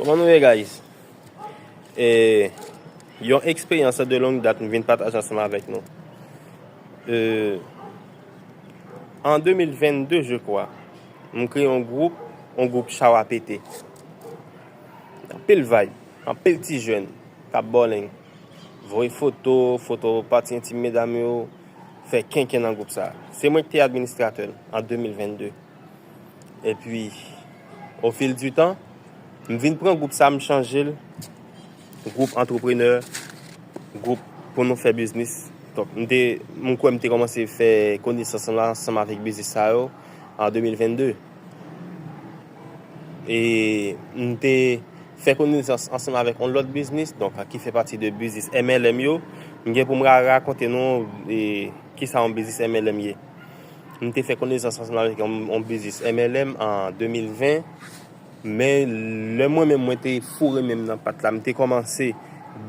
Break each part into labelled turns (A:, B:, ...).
A: Koman nou ye guys e yon eksperyans de long dat m vin pataje ansanm avèk nou e an 2022 je kwa m kreye yon gwoup yon gwoup chaw a pete anpil vayb anpil ti jèn kap bòleng voye foto foto pati entim medam yo fè kenken nan gwoup sa se mwen ki te administratè l an 2022. Epi, ofil di tan, m vin pran gwoup sa m chanje l, gwoup antreprenè, gwoup pou nou fè biznis. Donk, m te, m kwè m te kòmanse fè konesans lan ansanm avèk biznis sa yo an 2022. E m te fè konesans ansanm avèk yon lòt biznis, donk ki fè pati de biznis MLM yo. M gen pou m rakonte nou kisa yon biznis MLM ye. M te fè konnesans ansanm avèk yon biznis MLM an 2020, men lè mwen menm mwen te foure menm nan pat la, m te kòmanse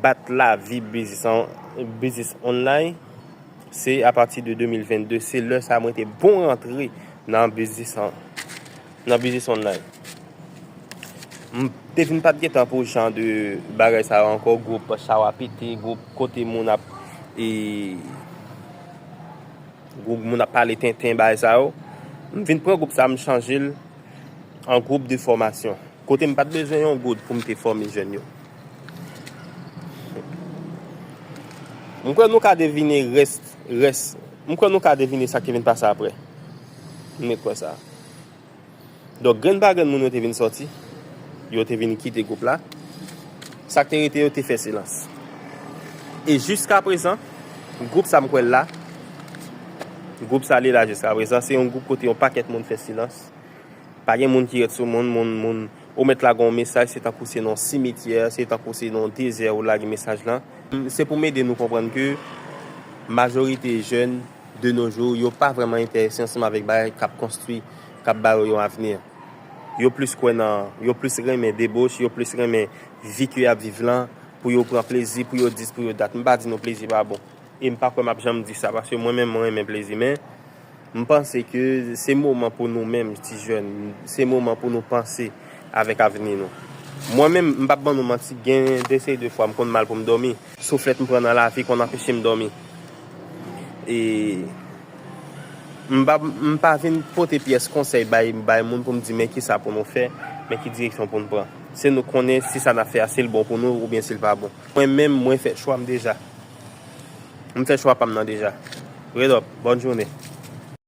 A: bat lavi biznis an, biznis online, se apati de 2022, se lè sa mwen te bon rantre nan biznis an, nan biznis online. M te vin pat gen tan pou jan de bagay sa yo ankò, gwoup chawa pete, gwoup kote moun ap e. Group moun ap pale tenten bagay sa yo. M vin pran group sa m chanje l an group de fòmasyon. Kote m pat bezwen yon goud pou m te fòme jèn yo. M kwè nou ka devine rès, rès, m kwè nou ka devine sa ki vin pase aprè. M ret kwè sa. Donk grenn pa grenn moun yo te vin sòti, yo te vin kite gwoup la. Sa k te rete yo te fè silans. E jiskaprezan, gwoup sa m kwè l la, gwoup sa li la jiskaprezan, se yon gwoup kote yon pakèt moun fè silans. Pa gen moun ki ret sou moun, moun, moun. Ou mèt lage yon mesaj, se tankou se nan yon simetyè, se tankou se nan yon dezè ou lage mesaj lan. Se pou m ede nou konprann ke majorite jèn De no jou, yo pa vrèman enterese ansanm avèk bagay k ap konstwi, k ap ba yo yon avni. Yo plis kwè nan, yo plis renmen deboche, yo plis renmen vi ke y ap viv lan, pou yo pran plezi, pou yo dis, pou yo dat. M pa di nou plezi pa bon. E m pa kwè m ap janm di sa, paske mwen menm, mwen renmen plezi. Men, m panse ke se moman pou nou menm, ti jèn, se moman pou nou panse avèk avni nou. Mwen menm, m p ap ban nou manti, gen de seri de fwa m konn mal pou m dòmi. Souflèt m pran nan lavi konn anpeche m dòmi. E m pa vin pote pyès konsèy bay moun pou m di men kisa pou nou fè, men ki direksyon pou n pran. Se nou k konnen si sa n ap fè a si l bon pou nou oubyen si l pa bon. Mwen menm mwen fè chwa m deja. M fè chwa pa m nan deja. Red up. Bòn jounen.